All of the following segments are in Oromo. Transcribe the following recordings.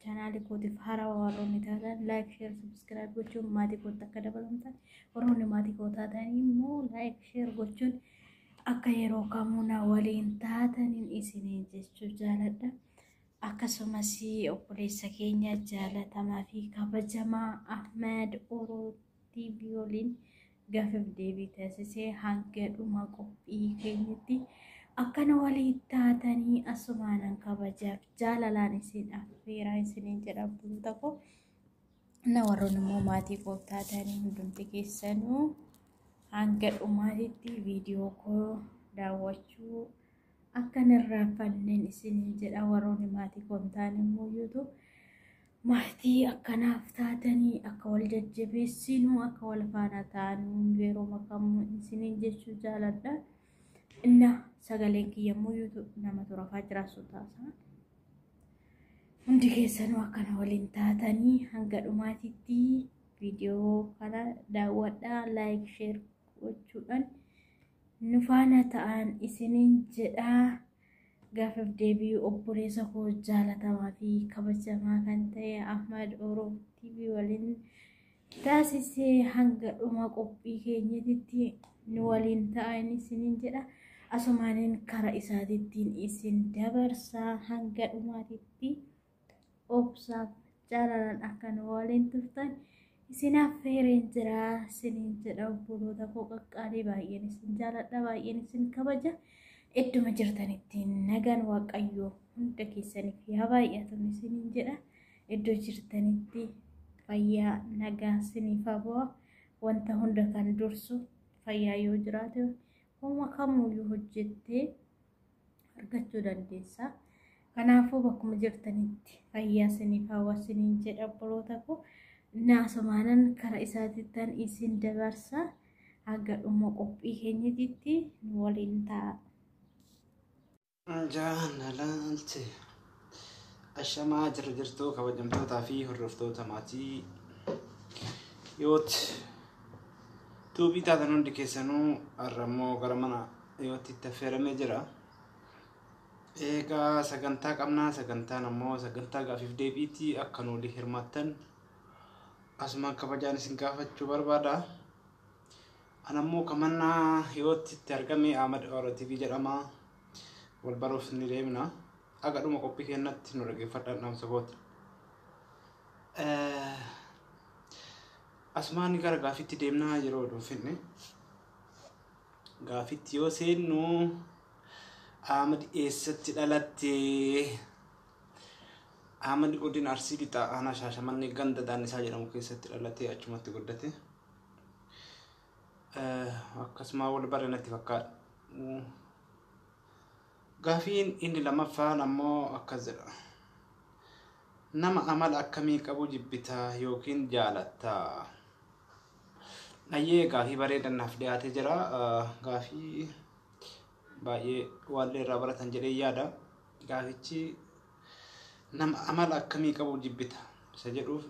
Chaanaali kootiif haaraa warroonni taatan laayik sheer subskiraayib gochuun maatii kootti akka dabalamtan warroonni maatii koo taatan immoo laayik sheer gochuun akka yeroo kamuu na waliin taataniin isiniin jechuu jaaladha. Akkasumas obboleessa keenya jaalatamaa fi kabajamaa Ahmed Uruu TV waliin gaaffiif deebii taasisee hanga dhuma qophii keenyatti akkana walii taatanii asumaanan kabajaaf jaalalaan isin affeeraa isiniin jedha bulta koo na warroon immoo maatii koo taatanii hundumti keessanuu hanga dhumaatitti viidiyoo koo daawwachuu akkan irraanfanneen isiniin jedha warroonni maatii koo hin taane immoo yuutuub Maatii akka naaf taatanii akka wal jajjabeessinu akka wal faana taanu yeroo makamu isiniin jechuu jaaladha. Inna sagaleen kiyya immoo yuutu nama turafaa jiraasuu taasaa. Hundi keessanuu akkana waliin taatanii hanga dhumaatitti viidiyoo kana daawwadhaa laayik sheer gochuudhaan nu faana ta'an isiniin jedhaa. Gaafif deebii obboleessa koo jaalatamaa fi kabajamaa kan ta'e Ahmad Orof TV waliin taasisee hanga dhuma qophii keenyatitti nu waliin ta'a inni isiniin jedha. Asumaanin kara isaatittiin isin dabarsaa hanga dhumaatitti. obsaaf jaalalan akka nu waliin turtan isin affeereen jira isiniin jedha obboloota koo qaqqaalii baay'een isin jaaladha baay'een isin kabaja idduma jirtanitti nagaan waaqayyoo hunda keessaniif yaa baay'atu isiniin jedha iddoo jirtanitti fayyaa nagaa isiniif habu'a wanta hunda kan dursu fayyaa yoo jiraate hooma kamuyyuu hojjettee argachuu dandeessa. Kanaafuu bakkuma jirtanitti fayyaa isiniif hawwa isiniin jedha obboloota koo naasumaanan karaa isaatittan isin dabarsa hanga dhuma qophii keenyatitti nu waliin ta'a. Jaalalti. Ashamaa jirra jirtuu kabajamtootaa fi hordoftoota maatii yoot tuubii taatan hundi keessanuu har'a immoo gara mana yootti itti affeeramee jira. Egaa sagantaa qabnaa sagantaan ammoo sagantaa gaafiif deebiitii akka nu waliin hirmaattan asumaan kabajaan isin gaafachuu barbaada. An ammoo kamannaa yootti itti argame Ahmad Oro TV jedhama. Wal baruuf ni deemna. Haga dhuma qophii keenyatti nu dhaggeeffadhaan dhaamsa kooti. Asumaan gara gaafitti deemnaa yeroo oduu finne. Gaafitti yoo seennu Ahmad eessatti dhalatte? Ahmad godina Arsii Lixaa aanaa Shaashamannee ganda Daannisaa jedhamu keessatti dhalatee achumatti guddate. Akkasuma wal bare natti fakkaata. Gaafiin inni lamaffaan ammoo akkas jedha. Nama amala akkamii qabu jibbita yookiin jaalatta? Ayyee gaafii bareedan naaf dhiyaatee jira. Gaafii baay'ee waallee irraa baratan jedhee yaada. Gaafichi nama amala akkamii qabu jibbita isa jedhuuf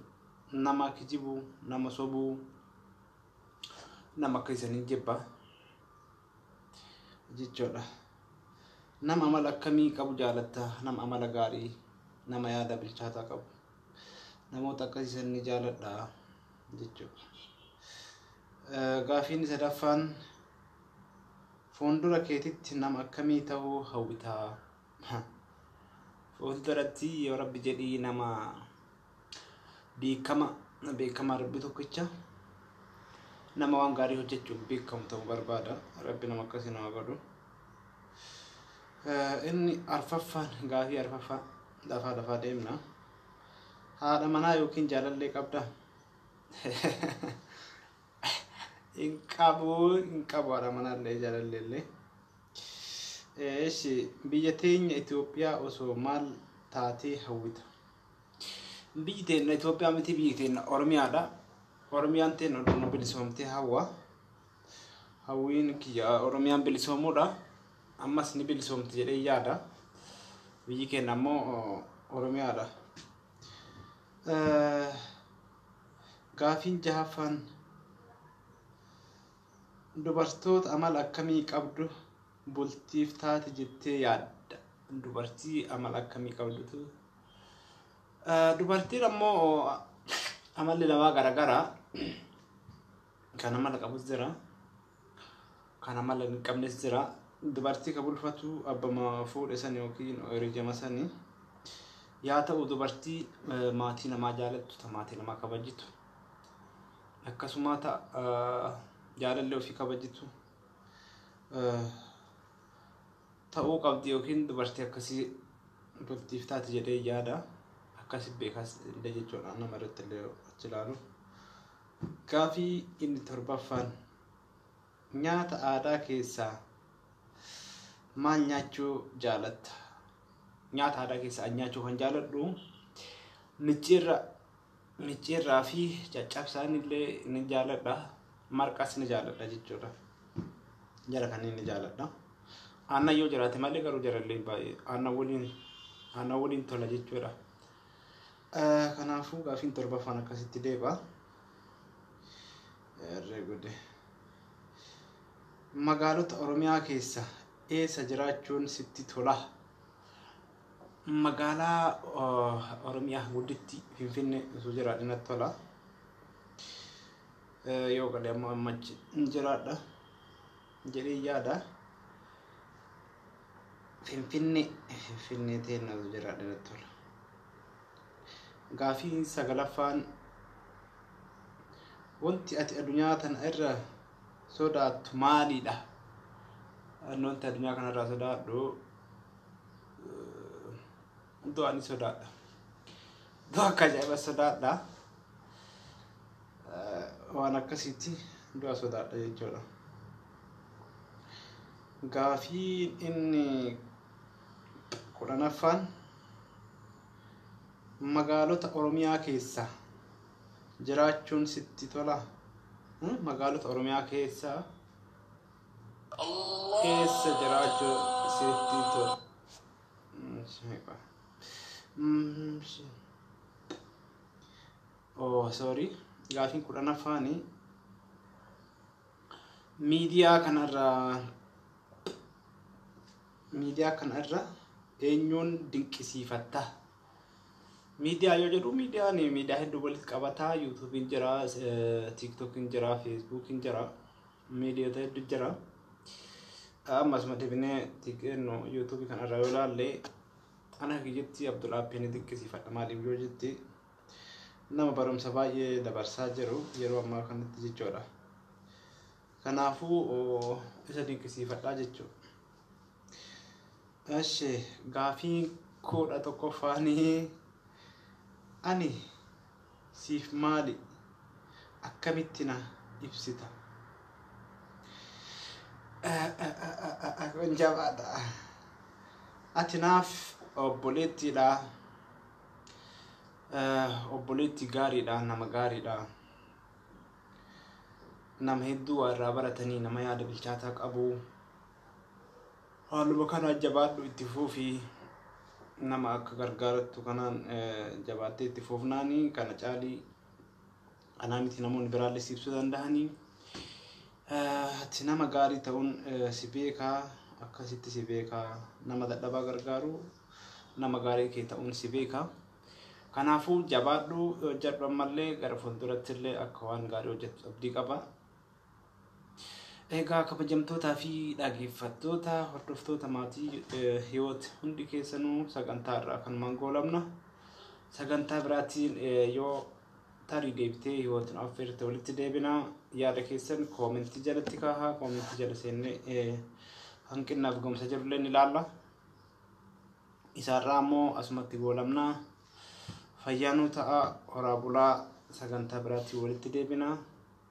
nama kijibu, nama sobuu, nama akka isanii jibba. jechuudha. Nama amala akkamii qabu jaalatta? Nama amala gaarii, nama yaada bilchaataa qabu. Namoota akkasii san ni jaaladha jechuudha. Gaafiin sadaffaan fuuldura keetitti nama akkamii ta'uu hawwitaa? Fuulduratti yoo rabbi jedhii nama beekama beekamaa rabbi tokkicha nama waan gaarii hojjechuun beekamu ta'u barbaada rabbi nama akkasii nama godhu inni arfaffaan gaafii arfaffaa lafaa lafaa deemna haadha manaa yookiin jaalallee qabda hin qabu hin qabu haadha manaallee jaalallee illee Eeshi biyya teenya Itoophiyaa osoo maal taatee hawwita? Biyyi teenna Itoophiyaa miti biyyi teenna Oromiyaadha. Oromiyaan teenna Oromoo bilisoomtee hawwa. Hawwiin kiyya Oromiyaan bilisoomuudha. Ammas ni bilisoomti jedhee yaada. Biyyi keenya ammoo Oromiyaadha. Gaafiin jahaffaan dubartoota amala akkamii qabdu bultiif taati jettee yaadda? Dubartii amala akkamii qabdutu Eh, Dubartiin ammoo amalli namaa garagara. Kan amala qabus jira. Kan amala hin qabnes jira. Dubartii ka bulfatu abbama fuudhe san yookiin hiriyyama sani. Yaa ta'u dubartii eh, maatii namaa jaalattu, ta maatii namaa kabajitu. Akkasuma ta eh, jaalallee ofii kabajitu. Eh, ta'uu qabdi yookiin dubartii akkasii bultiif taati jedhee yaada akkasi beekaas illee jechuudha nama irratti illee achi ilaalu gaafii inni torbaffaan nyaata aadaa keessaa maal nyaachuu jaalatta nyaata aadaa keessaa an nyaachuu kan jaaladhu micciirra Micciirraa fi caccabsaan illee ni jaaladha. Marqas ni jaaladha jechuudha. Jara kanneen ni jaaladha. Aannan yoo jiraate malee garuu jarallee baay'ee aannan waliin aannan waliin tola jechuudha. Eh, Kanaafuu gaafiin torbaffaan akkasitti deebi'a. Erre gude. Magaalota Oromiyaa keessa eessa jiraachuun sitti tola? Magaalaa Oromiyaa gudditti Finfinnee osoo jiraadhe natti tola. Yoo galee ammoo amma achi hin jiraadha jedhee yaada. Finfinnee Finfinnee teenna osoo jiraadhe natti tola. Gaafiin sagalaffaan wanti ati addunyaa tana irra sodaattu maalidha? Wanti addunyaa kanarraa sodaadhu du'a ni sodaadha. Du'a akka ajaa'iba sodaadha. Waan akkasiitti du'a sodaadha jechuudha. Gaafii inni kudhanaffaan magaalota Oromiyaa keessa jiraachuun sitti tola. Magaalota Oromiyaa keessa keessa jiraachuu sitti to oh sorry gaafiin kudhanaffaani miidiyaa kanarraa miidiyaa kanarra eenyuun dinqisiifatta miidiyaa yoo jedhu miidiyaan miidiyaa hedduu walitti qabataa yuutuubiin jira tiiktokiin jira feesbuukiin jira miidiyoota heddu jira. Amma asuma deebinee xiqqeennu yuutuubii kana irraa yoo ilaalle ana kiyyatti Abdul Aappiin ni dinqisiifadha maaliif yoo jetti nama barumsa baay'ee dabarsaa jiru yeroo ammaa kanatti jechuudha. Kanaafuu isa dinqisiifadhaa jechuudha. Eshi gaafii kudha tokkoffaanii ani siif maali? Akkamitti na ibsita? Kun jabaadha. Ati naaf obboleettiidha. Obboleetti gaariidha, nama gaariidha. Nama hedduu waa irraa baratanii nama yaada bilchaataa qabu. Haaluma kanaan jabaadhu itti fufi nama akka gargaarattu kanaan jabaattee itti fufnaani kana caalii anaa miti namoonni biraallee si ibsuu danda'anii ati nama gaarii ta'uun si beekaa akkasitti si beekaa nama dadhabaa gargaaru nama gaarii kee ta'uun si beekaa kanaafuu jabaadhu hojjedhu ammallee gara fuuldurattillee akka waan gaarii hojjettu abdii qaba Egaa kabajamtootaa fi dhageeffattoota hordoftoota maatii eh, hiwoot hundi keessanuu sagantaa irraa kanumaan goolabna. Sagantaa biraatiin eh, yoo tarii deebitee hiwootni affeerte walitti deebina. Yaada keessan koomentii jalatti kaahaa koomentii jala seennee eh, hanqinnaaf gomsa jirullee ni ilaalla. Isaarraa ammoo asumatti goolabna. Fayyaanuu ta'a horaa bulaa sagantaa biraatiin walitti deebina.